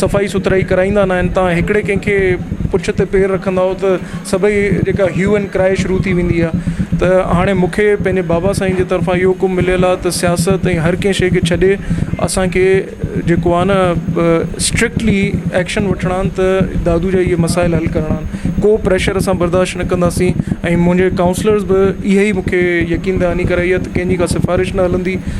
صفائي سٿرائي ڪرائيندا نه آهن تان هڪڙي ڪنهن کي پڇ تي پير رکندائو ته سڀئي جيڪا هيو اينڊ ڪرائي شروع ٿي ويندي آهي ته هاڻي مون کي پنهنجي بابا سائين جي طرفان اهو حڪم مليل آهي ته سياست ۽ هر ڪنهن شئي کي ڇڏي اسانکي جيڪو آهي نه اسٽرڪٽلي ايڪشن وٺڻا آهن ته دادو جا اهي مسائل حل ڪرڻا آهن ڪو پريشر اسان برداشت نه ڪنداسين ۽ منهنجي ڪائونسلرز به اهي ئي مون کي يقين دهاني ڪرائي آهي ته ڪنهنجي ڪا سفارش نه هلندي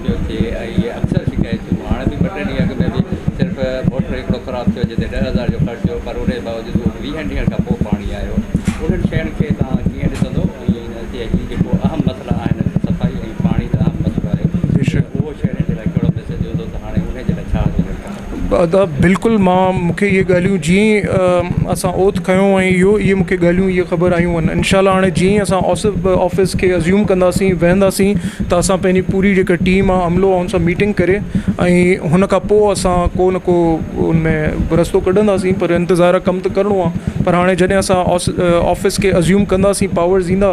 پيو ٿئي ۽ اهي اڪثر شڪايتون هاڻ به ٻه ٽي ڏينهن اڳ ۾ به صرف موٽر هڪڙو خراب ٿيو جتي ڏهه هزار جو خرچ هو پر ان جي باوجود اهو به ويهن ڏينهن کان پوء پاڻي آيو انهن شين کي توهان ڪيئن ڏسندو ۽ هتي هي جيڪو اهم مسئلا آهن صفائي ۽ پاڻي ته اهم مسئلو آهي بيشڪ اهو شهرين جي لاء ڪهڙو ميسيج هوندو ته هاڻي انهي جي لاء ڇا هجڻ کپي. ادا بلڪل مان مونکي اھي ڳالھيون جيئن اسان اوٿ کنيو ۽ اھو اھي مونکي ڳالھيون اھي خبر آيون ان انشاء الله ھاڻي جيئن اسان اوسب آفس کي ازيوم ڪنداسين ويھنداسين ته اسان پنھنجي پوري جيڪا ٽيم آ عملو آ ان سان ميٽنگ ڪري ۽ ھن کان پوء اسان ڪو نھ ڪو ان ۾ رستو ڪڍنداسين پر انتظار ڪم ته ڪرڻو آ پر ھاڻي جڏھن اسان اوس آفس کي ازيوم ڪنداسين پاورز ايندا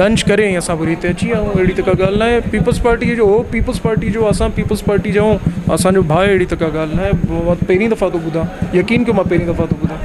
لنچ ڪري ۽ اسان وري هتي اچي ويا آهيون اهڙي ته ڪا ڳالهه ناهي پيپلز پارٽيء جو هو پيپلز پارٽيء جو اسان پيپلز پارٽيء جا آهيون اسانجو ڀاء اهڙي ته ڪا ڳالهه ناهي پهرين دفعا ٿو ٻڌان يقين ڪيو مان پهرين دفعا ٿو ٻڌان